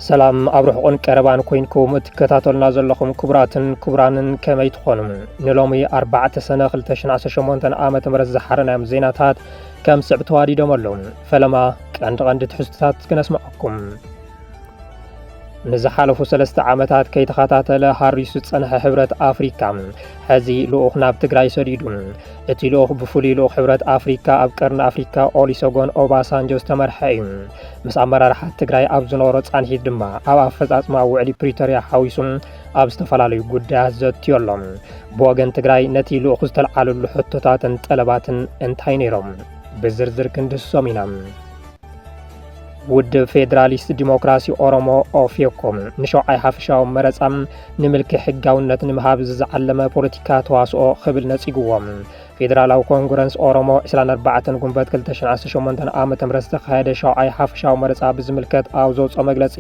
ሰላም ኣብ ርሑቕን ቀረባን ኮይንኩም እትከታተሉና ዘለኹም ክቡራትን ክቡራንን ከመይ ትኾኑ ንሎሚ 4 ሰነ 218 ዓ ም ዝሓረናዮም ዜናታት ከም ስዕብ ተዋዲዶም ኣለዉ ፈለማ ቀንዲ ቀንዲ ትሕዝቶታት ክነስምዐኩም ንዝሓለፉ ሰለስተ ዓመታት ከይተኸታተለ ሃሪሱ ዝጸንሐ ሕብረት ኣፍሪካ ሕዚ ልኡኽ ናብ ትግራይ ሰዲዱ። እቲ ልኡኽ ብፍሉይ ልኡኽ ሕብረት ኣፍሪካ ኣብ ቀርኒ ኣፍሪካ ኦሊሶጎን ኦባሳንጆ ዝተመርሐ እዩ። ምስ ኣመራርሓ ትግራይ ኣብ ዝነበሮ ጻንሒት ድማ ኣብ ኣፈጻጽማ ውዕሊ ፕሪቶርያ ሓዊሱ ኣብ ዝተፈላለዩ ጉዳያት ዘትዮ ኣሎ። ብወገን ትግራይ ነቲ ልኡኽ ዝተልዓለሉ ሕቶታትን ጠለባትን እንታይ ነይሮም? ብዝርዝር ክንድህሶም ኢና። ውድብ ፌዴራሊስት ዲሞክራሲ ኦሮሞ ኦፌኮ ንሸውዓይ ሓፈሻዊ መረፃ ንምልኪ ሕጋውነት ንምሃብ ዝዓለመ ፖለቲካ ተዋስኦ ክብል ነፂግዎም ፌዴራላዊ ኮንግረንስ ኦሮሞ 24 ጉንበት 218 ዓ ም ዝተኻየደ ሸውዓይ ሓፈሻዊ መረፃ ብዝምልከት ኣብ ዘውፅኦ መግለፂ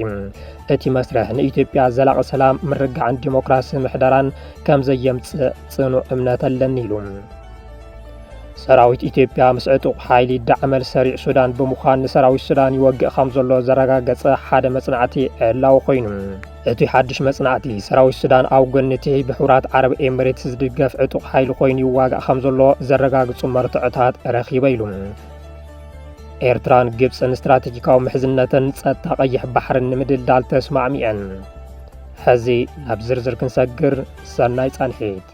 እቲ መስርሕ ንኢትዮጵያ ዘላቒ ሰላም ምርጋዕን ዲሞክራሲ ምሕደራን ከም ዘየምፅእ ፅኑዕ እምነት ኣለኒ ኢሉ ሰራዊት ኢትዮጵያ ምስ ዕጡቕ ሓይሊ ዳዕመል ሰሪዕ ሱዳን ብምዃን ንሰራዊት ሱዳን ይወግእ ከም ዘሎ ዘረጋገጸ ሓደ መጽናዕቲ ዕላዊ ኮይኑ እቲ ሓድሽ መጽናዕቲ ሰራዊት ሱዳን ኣብ ጎኒ እቲ ብሕቡራት ዓረብ ኤምሬትስ ዝድገፍ ዕጡቕ ሓይሊ ኮይኑ ይዋጋእ ከም ዘሎ ዘረጋግጹ መርትዖታት ረኺበ ኢሉ ኤርትራን ግብፅን ስትራቴጂካዊ ምሕዝነትን ጸጥታ ቀይሕ ባሕርን ንምድልዳል ተስማዕሚዐን ሕዚ ናብ ዝርዝር ክንሰግር ሰናይ ጻንሒት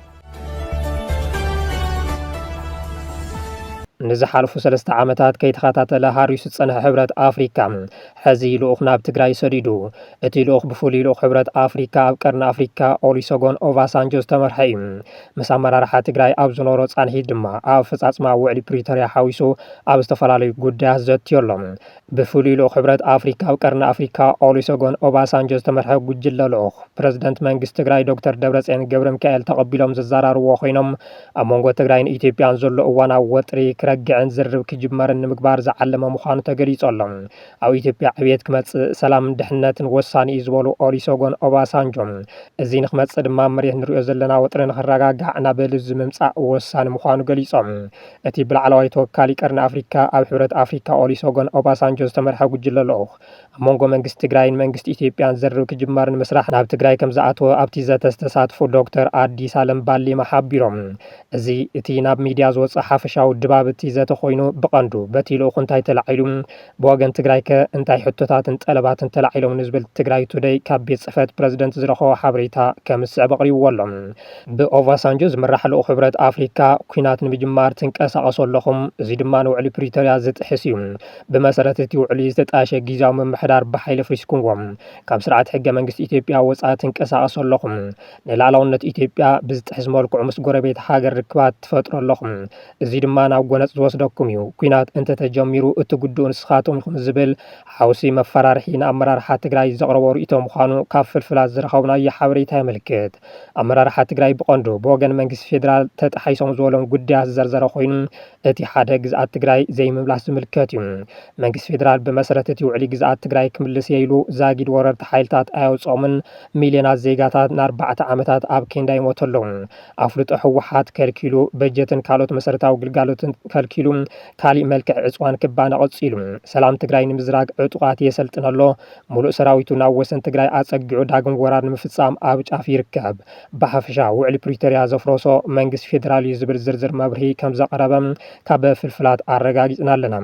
ንዝሓልፉ ሰለስተ ዓመታት ከይተኸታተለ ሃሪሱ ዝፀንሐ ሕብረት ኣፍሪካ ሕዚ ልኡኽ ናብ ትግራይ ሰዲዱ እቲ ልኡኽ ብፍሉይ ልኡኽ ሕብረት ኣፍሪካ ኣብ ቀርኒ ኣፍሪካ ኦሊሶጎን ኦቫሳንጆ ዝተመርሐ እዩ ምስ ኣመራርሓ ትግራይ ኣብ ዝኖሮ ፃንሒት ድማ ኣብ ኣፈፃፅማ ውዕሊ ፕሪቶሪያ ሓዊሱ ኣብ ዝተፈላለዩ ጉዳያት ዘትዮሎም ብፍሉይ ልኡኽ ሕብረት ኣፍሪካ ኣብ ቀርኒ ኣፍሪካ ኦሊሶጎን ኦባሳንጆ ዝተመርሐ ጉጅለ ልኡኽ ፕረዚደንት መንግስቲ ትግራይ ዶክተር ደብረፅዮን ገብረሚካኤል ተቐቢሎም ዘዘራርብዎ ኮይኖም ኣብ መንጎ ትግራይን ኢትዮጵያን ዘሎ እዋናዊ ወጥሪ ክረግዕን ዝርርብ ክጅመርን ንምግባር ዝዓለመ ምዃኑ ተገሊፁ ኣሎ። ኣብ ኢትዮጵያ ዕብየት ክመፅእ ሰላምን ድሕነትን ወሳኒ እዩ ዝበሉ ኦሊሶጎን ኦባሳንጆ እዚ ንክመፅእ ድማ ኣብ መሬት ንሪኦ ዘለና ወጥሪ ንክረጋጋዕ ናብ ልዙብ ምምፃእ ወሳኒ ምዃኑ ገሊፆም። እቲ ብላዕለዋይ ተወካሊ ቀርኒ ኣፍሪካ ኣብ ሕብረት ኣፍሪካ ኦሊሶጎን ኦባሳንጆ ዝተመርሐ ጉጅለ ልኡኽ ኣብ መንጎ መንግስቲ ትግራይን መንግስቲ ኢትዮጵያን ዘርብ ክጅመር ንምስራሕ ናብ ትግራይ ከምዝኣተወ ኣብቲ ዘተ ዝተሳትፉ ዶክተር ኣዲስ ኣለም ባሊማ ሓቢሮም። እዚ እቲ ናብ ሚዲያ ዝወፀ ሓፈሻዊ ድባብ እቲ ዘተ ኮይኑ ብቐንዱ በቲ ልኡኽ እንታይ ተላዒሉ፣ ብወገን ትግራይከ እንታይ ሕቶታትን ጠለባትን ተላዒሎም ንዝብል ትግራይ ቱደይ ካብ ቤት ፅሕፈት ፕረዚደንት ዝረኸቦ ሓበሬታ ከምዝስዕብ ኣቕሪብዎ ኣሎ። ብኦቫሳንጆ ዝምራሕ ልኡኽ ሕብረት ኣፍሪካ ኲናት ንምጅማር ትንቀሳቐሱ ኣለኹም፣ እዙይ ድማ ንውዕሊ ፕሪቶርያ ዝጥሕስ እዩ። ብመሰረት እቲ ውዕሊ ዝተጣየሸ ጊዚያዊ ምምሕዳር ብሓይሊ ኣፍሪስኩምዎ። ካብ ስርዓት ሕገ መንግስቲ ኢትዮጵያ ወፃኢ ትንቀሳቐሱ ኣለኹም። ንሉኣላውነት ኢትዮጵያ ብዝጥሕስ መልክዑ ምስ ጎረቤት ሃገር ርክባት ትፈጥሩ ኣለኹም። እዚ ድማ ናብ ጎነጽ ዝወስደኩም እዩ። ኩናት እንተተጀሚሩ እትጉድኡ ንስኻትኩም ኢኹም ዝብል ሓውሲ መፈራርሒ ንኣመራርሓ ትግራይ ዘቕረቦ ርእይቶ ምዃኑ ካብ ፍልፍላት ዝረኸብናዮ ሓበሬታ የመልክት። ኣመራርሓ ትግራይ ብቐንዱ ብወገን መንግስቲ ፌደራል ተጣሒሶም ዝበሎም ጉዳያት ዝዘርዘረ ኮይኑ እቲ ሓደ ግዝኣት ትግራይ ዘይምምላስ ዝምልከት እዩ። መንግስቲ ፌደራል ብመሰረት እቲ ውዕሊ ግዝኣት ትግራይ ክምልስ እየ ኢሉ ዛጊድ ወረርቲ ሓይልታት ኣየውጽኦምን ሚልዮናት ዜጋታት ንኣርባዕተ ዓመታት ኣብ ኬንዳ ይሞቱ ኣለዉ። ኣፍልጦ ህወሓት ከልኪሉ፣ በጀትን ካልኦት መሰረታዊ ግልጋሎትን ከልኪሉ፣ ካሊእ መልክዕ ዕፅዋን ክባና ቀፂሉ፣ ሰላም ትግራይ ንምዝራግ ዕጡቓት የሰልጥን ኣሎ፣ ሙሉእ ሰራዊቱ ናብ ወሰን ትግራይ ኣፀጊዑ ዳግም ወራር ንምፍፃም ኣብ ጫፍ ይርከብ፣ ብሓፈሻ ውዕሊ ፕሪቶሪያ ዘፍረሶ መንግስቲ ፌዴራል እዩ ዝብል ዝርዝር መብርሂ ከምዘቕረበ ካብ ፍልፍላት ኣረጋጊፅና ኣለና።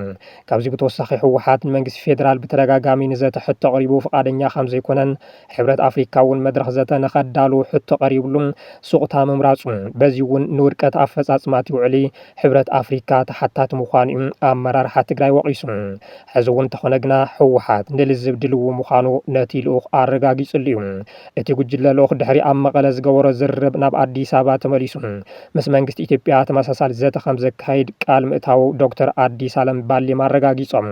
ካብዚ ብተወሳኺ ህወሓት ንመንግስቲ ፌዴራል ብተደጋጋሚ ንዘተ ሕቶ ኣቕሪቡ ፍቓደኛ ከምዘይኮነን፣ ሕብረት ኣፍሪካ እውን መድረኽ ዘተ ንኸዳሉ ሕቶ ቀሪብሉ ሱቕታ ምምራፁ በዚ እውን ንውድቀት ኣፈፃፅማ እቲ ውዕሊ ሕብረት ኣፍሪካ ተሓታቲ ምዃኑ እዩ ኣመራርሓ ትግራይ ወቒሱ። ሕዚ እውን እንተኾነ ግና ህወሓት ንልዝብ ድልዉ ምዃኑ ነቲ ልኡኽ ኣረጋጊፅሉ እዩ። እቲ ጉጅለ ልኡኽ ድሕሪ ኣብ መቐለ ዝገበሮ ዝርርብ ናብ ኣዲስ ኣበባ ተመሊሱ ምስ መንግስቲ ኢትዮጵያ ተመሳሳሊ ዘተ ከምዘካይድ ቃል ምእታዉ ዶክተር ኣዲስ ኣለም ባሌማ ኣረጋጊፆም።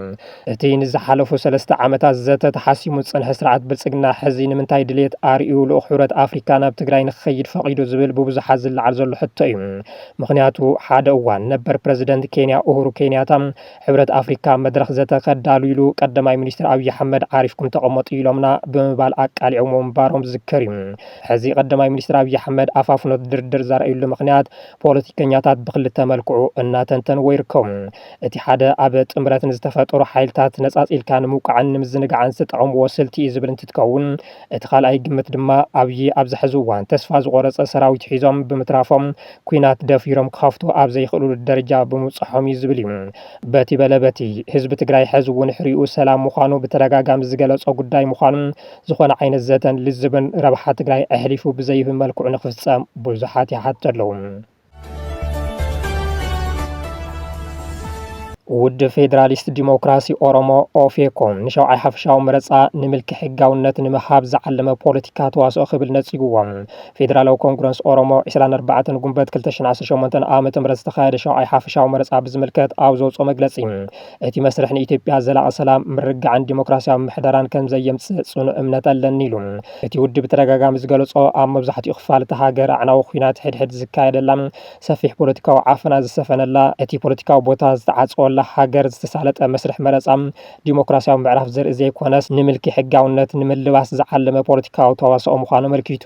እቲ ንዝሓለፉ ሰለስተ ዓመታት ዘተ ተሓሲሙ ዝፀንሐ ስርዓት ብልፅግና ሕዚ ንምንታይ ድልየት ኣርእዩ ልኡኽ ሕብረት ኣፍሪካ ናብ ትግራይ ንክኸይድ ፈቒዱ ዝብል ብብዙሓት ዝለዓል ዘሎ ሕቶ እዩ። ምኽንያቱ ሓደ እዋን ነበር ፕረዚደንት ኬንያ ኡሁሩ ኬንያታ ሕብረት ኣፍሪካ መድረኽ ዘተ ከዳልውሉ ቀዳማይ ሚኒስትር ኣብዪ ኣሕመድ ዓሪፍኩም ተቐመጡ ኢሎምና ብምባል ኣቃሊዖምዎ ምንባሮም ዝዝከር እዩ። ሕዚ ቀዳማይ ሚኒስትር ኣብዪ ኣሕመድ ኣፋፍኖት ድርድር ዘርእዩሉ ምኽንያት ፖለቲከኛታት ብክልተ መልክዑ እናተንተንዎ ይርከቡ። እቲ ሓደ ኣብ ጥምረት ንዝተፈጠሩ ሓይልታት ነፃፂልካ ንምውቃዕን ንምዝንጋዕን ዝተጠቐምዎ ስልቲ እዩ ዝብል እንትትከውን እቲ ካልኣይ ግምት ድማ ኣብዪ ኣብዚ ሕዚ እዋን ተስፋ ዝቖረፀ ሰራዊት ሒዞም ብምትራፎም ኩናት ደፊሮም ክኸፍቱ ኣብ ዘይኽእሉሉ ደረጃ ብምብፅሖም እዩ ዝብል እዩ። በቲ በለ በቲ ህዝቢ ትግራይ ሕዚ እውን ሕሪኡ ሰላም ምዃኑ ብተደጋጋሚ ዝገለፆ ጉዳይ ምዃኑ ዝኾነ ዓይነት ዘተን ልዝብን ረብሓ ትግራይ ኣሕሊፉ ብዘይህብ መልክዑ ንክፍፀም ብዙሓት ይሓቱ ኣለው። ውድብ ፌዴራሊስት ዲሞክራሲ ኦሮሞ ኦፌኮ ንሸውዓይ ሓፈሻዊ መረፃ ንምልኪ ሕጋውነት ንምሃብ ዝዓለመ ፖለቲካ ተዋስኦ ክብል ነፂጉዎ ፌዴራላዊ ኮንግረስ ኦሮሞ 24 ጉንበት 218 ዓ ም ዝተኻየደ ሸውዓይ ሓፈሻዊ መረፃ ብዝምልከት ኣብ ዘውፅኦ መግለፂ እቲ መስርሕ ንኢትዮጵያ ዘላቒ ሰላም ምርግጋዕን ዲሞክራሲያዊ ምሕደራን ከም ዘየምፅእ ፅኑዕ እምነት ኣለኒ ኢሉ እቲ ውድብ ብተደጋጋሚ ዝገለፆ ኣብ መብዛሕትኡ ክፋል እታ ሃገር ኣዕናዊ ኩናት ሕድሕድ ዝካየደላ፣ ሰፊሕ ፖለቲካዊ ዓፈና ዝሰፈነላ፣ እቲ ፖለቲካዊ ቦታ ዝተዓፀወላ ሃገር ዝተሳለጠ መስርሕ መረፃ ዲሞክራሲያዊ ምዕራፍ ዘርኢ ዘይኮነስ ንምልኪ ሕጋውነት ንምልባስ ዝዓለመ ፖለቲካዊ ተዋስኦ ምዃኑ ኣመልኪቱ።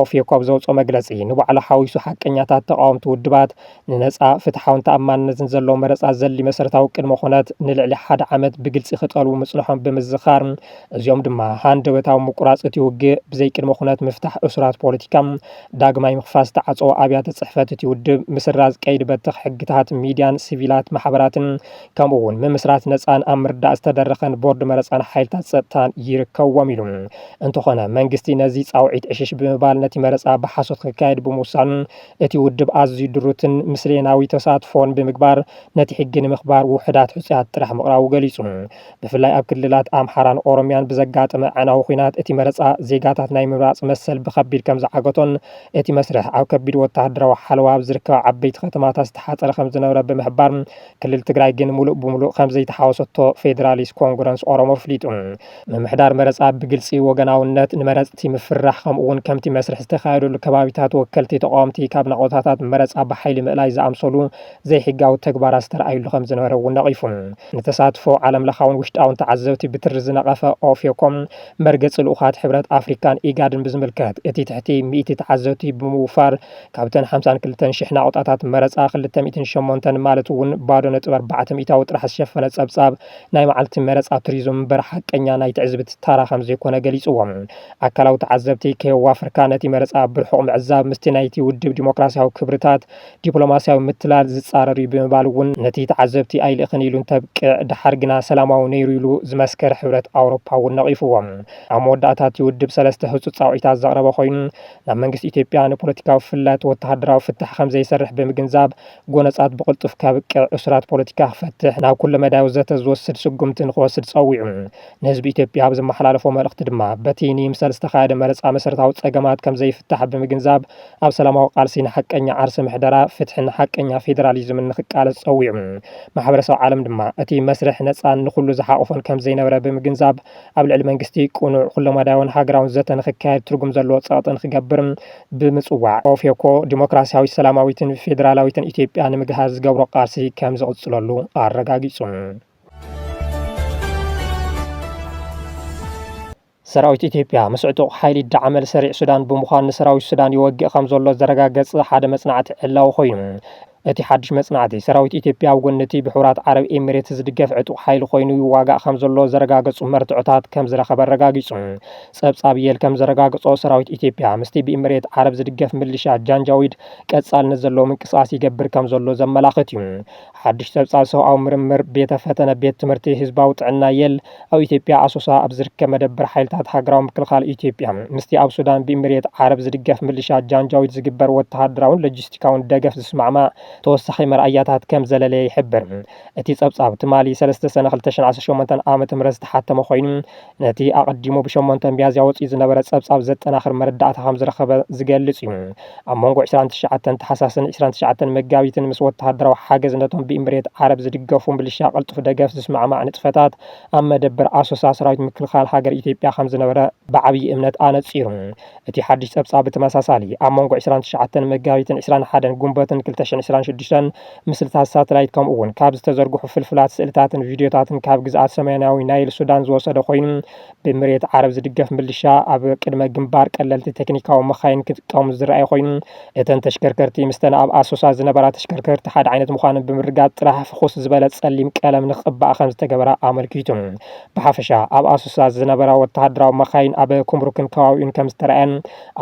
ኦፌኮ ኣብ ዘውፅኦ መግለፂ ንባዕሉ ሓዊሱ ሓቀኛታት ተቓወምቲ ውድባት ንነጻ፣ ፍትሓውን ተኣማንነትን ዘለዎ መረጻ ዘድሊ መሰረታዊ ቅድመ ኩነት ንልዕሊ ሓደ ዓመት ብግልጺ ክጠልቡ ምጽንሖም ብምዝኻር፣ እዚኦም ድማ ሃንደበታዊ ምቁራጽ እቲ ውግእ፣ ብዘይ ቅድመ ኩነት ምፍታሕ እሱራት ፖለቲካ፣ ዳግማይ ምኽፋት ዝተዓጸዎ ኣብያተ ጽሕፈት እቲ ውድብ፣ ምስራዝ ቀይዲ በተኽ ሕግታት ሚድያን ሲቪላት ማሕበራትን ከምኡ'ውን ምምስራት ነጻን ኣብ ምርዳእ ዝተደረኸን ቦርድ መረጻን ሓይልታት ጸጥታን ይርከብዎም ኢሉ። እንተኾነ መንግስቲ ነዚ ጻውዒት ዕሽሽ ብምባል ነቲ መረጻ ብሓሶት ክካየድ ብምውሳኑ እቲ ውድብ ኣዝዩ ድሩትን ምስሌናዊ ተሳትፎን ብምግባር ነቲ ሕጊ ንምኽባር ውሑዳት ሕጹያት ጥራሕ ምቕራቡ ገሊጹ። ብፍላይ ኣብ ክልላት ኣምሓራን ኦሮሚያን ብዘጋጠመ ኣዕናዊ ኹናት እቲ መረጻ ዜጋታት ናይ ምምራጽ መሰል ብኸቢድ ከምዝዓገቶን እቲ መስርሕ ኣብ ከቢድ ወተሃደራዊ ሓለዋ ኣብ ዝርከባ ዓበይቲ ከተማታት ዝተሓጸረ ከምዝነበረ ብምሕባር ክልል ትግራይ ግን ሙሉእ ብሙሉእ ከምዘይተሓወሰቶ ፌደራሊስት ኮንግረንስ ኦሮሞ ኣፍሊጡ። ምምሕዳር መረፃ ብግልፂ ወገናውነት ንመረፅቲ ምፍርራሕ ከምኡ እውን ከምቲ መስርሕ ዝተኻየደሉ ከባቢታት ወከልቲ ተቓወምቲ ካብ ናቖታታት መረፃ ብሓይሊ ምእላይ ዝኣምሰሉ ዘይሕጋዊ ተግባራት ዝተርኣዩሉ ከምዝነበረ እውን ነቒፉ። ንተሳትፎ ዓለም ለኻውን ውሽጣውን ተዓዘብቲ ብትሪ ዝነቐፈ ኦፌኮም መርገፂ ልኡኻት ሕብረት ኣፍሪካን ኢጋድን ብዝምልከት እቲ ትሕቲ ሚእቲ ተዓዘብቲ ብምውፋር ካብተን ሓምሳን ክልተን ሽሕ ናቑጣታት መረፃ ክልተ ሚእትን ሸሞንተን ማለት እውን ባዶ ነጥቢ ኣርባዕተ ሚእታዊ ጥራሕ ዝሸፈነ ፀብፃብ ናይ መዓልቲ መረፃ ቱሪዝም እምበር ሓቀኛ ናይ ትዕዝብቲ ታራ ከምዘይኮነ ገሊፅዎ። ኣካላዊ ተዓዘብቲ ከየዋፈርካ ነቲ መረፃ ብርሑቕ ምዕዛብ ምስቲ ናይቲ ውድብ ዲሞክራሲያዊ ክብርታት፣ ዲፕሎማሲያዊ ምትላል፣ ዝፃረር እዩ ብምባል እውን ነቲ ተዓዘብቲ ኣይልእኽን ኢሉ እንተብቅዕ ደሓር ግና ሰላማዊ ነይሩ ኢሉ ዝመስከረ ሕብረት ኣውሮፓ እውን ነቒፉዎ። ኣብ መወዳእታ እቲ ውድብ ሰለስተ ህፁፅ ፃውዒታት ዘቕረበ ኮይኑ ናብ መንግስቲ ኢትዮጵያ ንፖለቲካዊ ፍልልያት ወተሃደራዊ ፍታሕ ከምዘይሰርሕ ብምግንዛብ፣ ጎነጻት ብቕልጡፍ ከብቅዕ፣ እሱራት ፖለቲካ ክፈትሕ፣ ናብ ኩለመዳያዊ ዘተ ዝወስድ ስጉምቲ ንክወስድ ጸዊዑ። ንህዝቢ ኢትዮጵያ ኣብ ዘመሓላለፎ መልእኽቲ ድማ፣ በቲ ንይምሰል ዝተኻየደ መረጻ መሰረታዊ ጸገማት ከምዘይፍታሕ ብምግንዛብ፣ ኣብ ሰላማዊ ቃልሲ ንሓቀኛ ዓርሰ ምሕደራ፣ ፍትሕን ሓቀኛ ፌደራሊዝምን ንክቃለስ ጸዊዑ። ማሕበረሰብ ዓለም ድማ፣ እቲ መስርሕ ነጻን ንኹሉ ዝሓቖፈን ከምዘይነበረ ብምግንዛብ፣ ኣብ ልዕሊ መንግስቲ ቅኑዕ፣ ኩለመዳያዊን ሃገራውን ዘተ ንክካየድ ትርጉም ዘለዎ ጸቕጢ ንክገብር ብምፅዋዕ ኦፌኮ ዲሞክራሲያዊት ሰላማዊትን ፌዴራላዊትን ኢትዮጵያ ንምግሃስ ዝገብሮ ቃልሲ ከም ዝቕፅለሉ ኣረጋጊፁ። ሰራዊት ኢትዮጵያ ምስ ዕጡቕ ሓይሊ ዳዕመል ሰሪዕ ሱዳን ብምዃን ንሰራዊት ሱዳን ይወግእ ከም ዘሎ ዘረጋገፀ ሓደ መፅናዕቲ ዕላዊ ኮይኑ እቲ ሓድሽ መጽናዕቲ፣ ሰራዊት ኢትዮጵያ ኣብ ጎኒ እቲ ብሕቡራት ዓረብ ኤሚሬትስ ዝድገፍ ዕጡቕ ሓይሊ ኮይኑ ይዋጋእ ከምዘሎ ዘረጋገጹ መርትዖታት ከምዝረኸበ ኣረጋጊጹ። ጸብጻብ የል ከምዘረጋገጾ፣ ሰራዊት ኢትዮጵያ ምስቲ ብኢሚሬት ዓረብ ዝድገፍ ምልሻ ጃንጃዊድ ቀጻልነት ዘለዎ ምንቅስቓስ ይገብር ከምዘሎ ዘመላኽት እዩ። ሓድሽ ጸብጻብ ሰብኣዊ ምርምር ቤተ ፈተነ ቤት ትምህርቲ ህዝባዊ ጥዕና የል፣ ኣብ ኢትዮጵያ ኣሶሳ ኣብ ዝርከብ መደበር ሓይልታት ሃገራዊ ምክልኻል ኢትዮጵያ ምስቲ ኣብ ሱዳን ብኢሚሬት ዓረብ ዝድገፍ ምልሻ ጃንጃዊድ ዝግበር ወተሃደራውን ሎጂስቲካውን ደገፍ ዝስማዕማዕ ተወሳኺ መርኣያታት ከም ዘለለየ ይሕብር። እቲ ጸብጻብ ትማሊ ሰለስተ ሰነ ክልተ ሽሕን ዓሰርተ ሸሞንተን ዓመተ ምህረት ዝተሓተመ ኮይኑ ነቲ ኣቐዲሙ ብሸሞንተ ሚያዝያ ወጺኡ ዝነበረ ጸብጻብ ዘጠናኽር መረዳእታ ከም ዝረኸበ ዝገልጽ እዩ። ኣብ መንጎ ዕስራን ትሽዓተን ታሕሳስን ዕስራን ትሽዓተን መጋቢትን ምስ ወተሃደራዊ ሓገዝ ነቶም ብኢምሬት ዓረብ ዝድገፉ ምልሻ ቅልጡፍ ደገፍ ዝስማዕማዕ ንጥፈታት ኣብ መደበር ኣሶሳ ሰራዊት ምክልኻል ሃገር ኢትዮጵያ ከም ዝነበረ ብዓብዪ እምነት ኣነጺሩ። እቲ ሓድሽ ጸብጻብ ብተመሳሳሊ፣ ኣብ መንጎ ዕስራን ትሽዓተን መጋቢትን ዕስራን ሓደን ጉንበትን ክልተ ሽሕን ዕስራን ሽዱሽተን ምስልታት ሳተላይት ከምኡ'ውን ካብ ዝተዘርግሑ ፍልፍላት ስእልታትን ቪድዮታትን ካብ ግዝኣት ሰሜናዊ ናይል ሱዳን ዝወሰደ ኮይኑ፣ ብኢምሬት ዓረብ ዝድገፍ ምልሻ ኣብ ቅድመ ግንባር ቀለልቲ ቴክኒካዊ መኻይን ክጥቀሙ ዝረኣየ ኮይኑ፣ እተን ተሽከርከርቲ ምስተን ኣብ ኣሶሳ ዝነበራ ተሽከርከርቲ ሓደ ዓይነት ምዃነን ብምርግጋፅ ጥራሕ ፍኹስ ዝበለ ፀሊም ቀለም ንክቕባኣ ከምዝተገበራ ኣመልኪቱ። ብሓፈሻ ኣብ ኣሶሳ ዝነበራ ወተሃደራዊ መኻይን ኣብ ኩምሩክን ከባቢኡን ከምዝተርኣየን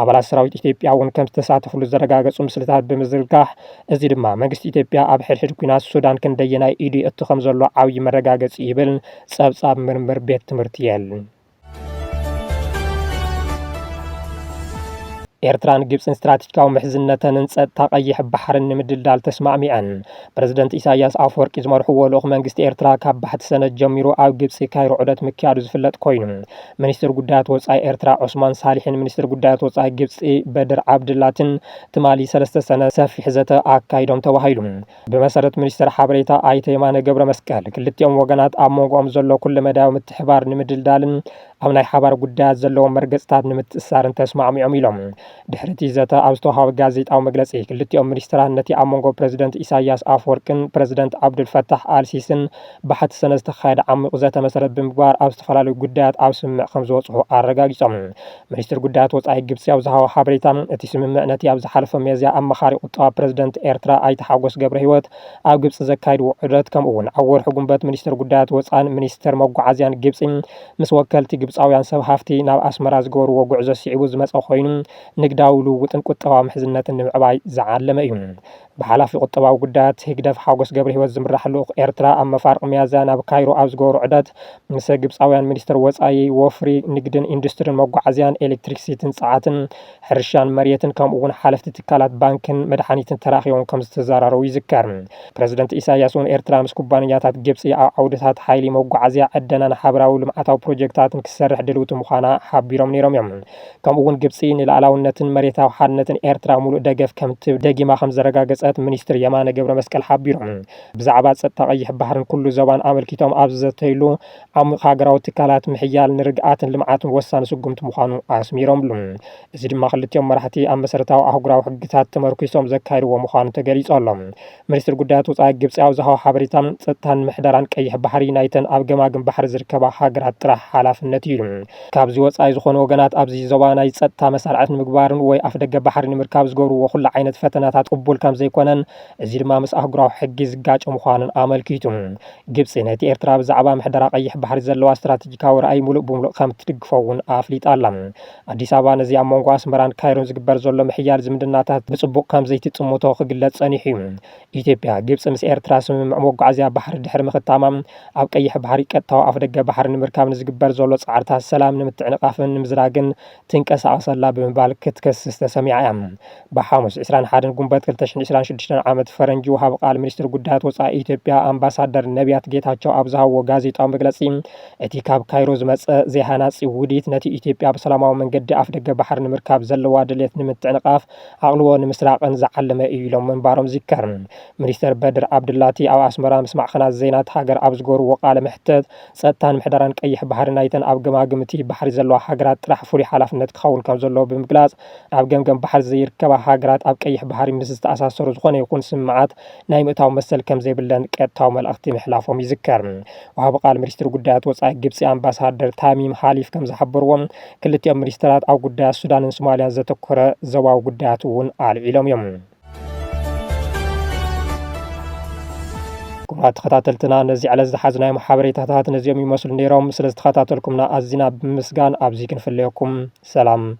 ኣባላት ሰራዊት ኢትዮጵያ እውን ከምዝተሳተፍሉ ዘረጋገፁ ምስልታት ብምዝርጋሕ እዚ ድማ መንግስቲ ኢትዮጵያ ኣብ ሕድሕድ ኲናት ሱዳን ክንደየናይ ኢዱ የእቱ ከምዘሎ ዓብዪ መረጋገፂ እዩ ይብል ጸብጻብ ምርምር ቤት ትምህርቲ የል። ኤርትራን ግብፅን ስትራቴጂካዊ ምሕዝነተንን ፀጥታ ቀይሕ ባሕርን ንምድልዳል ተስማዕሚዐን። ፕረዚደንት ኢሳያስ ኣፈወርቂ ዝመርሕዎ ልኡኽ መንግስቲ ኤርትራ ካብ ባሕቲ ሰነድ ጀሚሩ ኣብ ግብፂ ካይሮ ዑደት ምክያዱ ዝፍለጥ ኮይኑ ሚኒስትር ጉዳያት ወፃኢ ኤርትራ ዑስማን ሳሊሕን ሚኒስትር ጉዳያት ወፃኢ ግብፂ በድር ዓብድላትን ትማሊ ሰለስተ ሰነ ሰፊሕ ዘተ ኣካይዶም ተባሂሉ። ብመሰረት ሚኒስተር ሓበሬታ ኣይተ የማነ ገብረመስቀል፣ ክልቲኦም ወገናት ኣብ መንጎኦም ዘሎ ኩለመዳያዊ ምትሕብባር ንምድልዳልን ኣብ ናይ ሓባር ጉዳያት ዘለዎም መርገጽታት ንምትእስሳርን ተስማዕሚዖም ኢሎም። ድሕሪ እቲ ዘተ ኣብ ዝተውሃበ ጋዜጣዊ መግለጺ፣ ክልቲኦም ሚኒስተራት ነቲ ኣብ መንጎ ፕረዚደንት ኢሳይያስ ኣፍወርቅን ፕረዚደንት ዓብዱልፈታሕ ኣልሲስን ባሕቲ ሰነ ዝተኻየደ ዓሚቝ ዘተ መሰረት ብምግባር ኣብ ዝተፈላለዩ ጉዳያት ኣብ ስምምዕ ከምዝበጽሑ ኣረጋጊጾም። ሚኒስትሪ ጉዳያት ወጻኢ ግብጺ ኣብ ዝሃቦ ሓበሬታ፣ እቲ ስምምዕ ነቲ ኣብ ዝሓለፈ ሚያዝያ ኣማኻሪ ቁጠባ ፕረዚደንት ኤርትራ ኣይተ ሓጎስ ገብረሂወት ኣብ ግብጺ ዘካይድዎ ዑደት ከምኡ'ውን ኣብ ወርሒ ጉንበት ሚኒስትር ጉዳያት ወጻእን ሚኒስትር መጓዓዝያን ግብጺ ምስ ወከልቲ ግብጻውያን ሰብ ሃፍቲ ናብ ኣስመራ ዝገበርዎ ጉዕዞ ስዒቡ ዝመጸ ኮይኑ ንግዳዊ ልውውጥን ቁጠባዊ ምሕዝነትን ንምዕባይ ዝዓለመ እዩ። ብሓላፊ ቁጠባዊ ጉዳያት ህግደፍ ሓጎስ ገብረሂወት ዝምራሕ ልኡኽ ኤርትራ ኣብ መፋርቕ ሚያዝያ ናብ ካይሮ ኣብ ዝገበሮ ዑደት ምሰ ግብጻውያን ሚኒስተር ወጻኢ፣ ወፍሪ፣ ንግድን ኢንዱስትሪን፣ መጓዓዝያን ኤሌክትሪክሲቲን ጸዓትን፣ ሕርሻን መሬትን ከምኡ'ውን ሓለፍቲ ትካላት ባንክን መድሓኒትን ተራኺቦም ከምዝተዘራረቡ ይዝከር። ፕረዚደንት ኢሳይያስ'ውን ኤርትራ ምስ ኩባንያታት ግብጺ ኣብ ዓውድታት ሓይሊ፣ መጓዓዝያ፣ ዕደናን ሓበራዊ ልምዓታዊ ፕሮጀክታትን ክትሰርሕ ድልውቲ ምዃና ሓቢሮም ነይሮም'ዮም። ከምኡ እውን ግብፂ ንልኣላውነትን መሬታዊ ሓድነትን ኤርትራ ሙሉእ ደገፍ ከምትህብ ደጊማ ከምዘረጋገፀት ሚኒስትር የማነ ገብረመስቀል ሓቢሮም። ብዛዕባ ፀጥታ ቀይሕ ባሕርን ኩሉ ዞባን ኣመልኪቶም ኣብ ዝዘተይሉ፣ ዓሚቕ ሃገራዊ ትካላት ምሕያል ንርግኣትን ልምዓትን ወሳኒ ስጉምቲ ምዃኑ ኣስሚሮምሉ። እዚ ድማ ክልቲኦም መራሕቲ ኣብ መሰረታዊ ኣህጉራዊ ሕግታት ተመርኲሶም ዘካይድዎ ምዃኑ ተገሊፁ ኣሎ። ሚኒስትሪ ጉዳያት ወፃኢ ግብፂ ኣብ ዝሃቦ ሓበሬታ ፀጥታን ምሕደራን ቀይሕ ባሕሪ ናይተን ኣብ ገማግም ባሕሪ ዝርከባ ሃገራት ጥራሕ ሓላፍነት እዩ ኢሉ። ካብዚ ወፃኢ ዝኾኑ ወገናት ኣብዚ ዞባ ናይ ፀጥታ መሳርዕት ንምግባርን ወይ ኣፍደገ ባሕሪ ንምርካብ ዝገብርዎ ኩሉ ዓይነት ፈተናታት ቅቡል ከምዘይኮነን እዚ ድማ ምስ ኣህጉራዊ ሕጊ ዝጋጮ ምዃኑን ኣመልኪቱ። ግብፂ ነቲ ኤርትራ ብዛዕባ ምሕደራ ቀይሕ ባሕሪ ዘለዋ ስትራቴጂካዊ ራእይ ሙሉእ ብሙሉእ ከምትድግፎ እውን ኣፍሊጣ ኣላ። ኣዲስ ኣበባ ነዚ ኣብ መንጎ ኣስመራን ካይሮን ዝግበር ዘሎ ምሕያል ዝምድናታት ብጽቡቕ ከም ዘይትጽምቶ ክግለጽ ጸኒሑ እዩ። ኢትዮጵያ፣ ግብጺ ምስ ኤርትራ ስምምዕ መጓዓዝያ ባሕሪ ድሕሪ ምኽታማ፣ ኣብ ቀይሕ ባሕሪ ቀጥታዊ ኣፍደገ ባሕሪ ንምርካብ ንዝግበር ዘሎ ጻዕርታት ሰላም ንምትዕንቓፍን ንምዝራግን ትንቀሳቐስ ኣላ ብምባል ክትከስስ ተሰሚዓ እያ። ብሓሙስ ዕስራን ሓደን ጉንበት ክልተ ሽሕን ዕስራን ሽዱሽተን ዓመት ፈረንጂ ወሃቢ ቃል ሚኒስትሪ ጉዳያት ወፃኢ ኢትዮጵያ ኣምባሳደር ነቢያት ጌታቸው ኣብ ዝሃብዎ ጋዜጣዊ መግለፂ እቲ ካብ ካይሮ ዝመፀ ዘይሃናፂ ውዲት ነቲ ኢትዮጵያ ብሰላማዊ መንገዲ ኣፍደገ ባሕሪ ንምርካብ ዘለዋ ድሌት ንምትዕንቓፍ ዓቕልዎ ንምስራቕን ዝዓለመ እዩ ኢሎም ምንባሮም ዝዝከር። ሚኒስተር በድር ዓብዱላቲ ኣብ ኣስመራ ምስ ማዕኸናት ዜና እታ ሃገር ኣብ ዝገበርዎ ቃለ መሕተት ፀጥታን ምሕደራን ቀይሕ ባሕሪ ናይተን ኣብ ገማግም እቲ ባሕሪ ዘለዋ ሃገራት ጥራሕ ፍሉይ ሓላፍነት ክኸውን ከምዘለዎ ብምግላፅ ኣብ ገምገም ባሕሪ ዘይርከባ ሃገራት ኣብ ቀይሕ ባሕሪ ምስ ዝተኣሳሰሩ ዝኾነ ይኹን ስምምዓት ናይ ምእታው መሰል ከም ዘይብለን ቀጥታዊ መልእኽቲ ምሕላፎም ይዝከር። ወሃቢ ቃል ሚኒስትሪ ጉዳያት ወፃኢ ግብፂ ኣምባሳደር ታሚም ሃሊፍ ከም ዝሓበርዎ ክልቲኦም ሚኒስትራት ኣብ ጉዳያት ሱዳንን ሶማሊያን ዘተኮረ ዞባዊ ጉዳያት እውን ኣልዒሎም እዮም። ክቡራት ተኸታተልትና ነዚ ዕለት ዝሓዝናዮም ሓበሬታታት ነዚኦም ይመስሉ ነይሮም። ስለ ዝተኸታተልኩምና ኣዚና ብምስጋን ኣብዚ ክንፍለየኩም ሰላም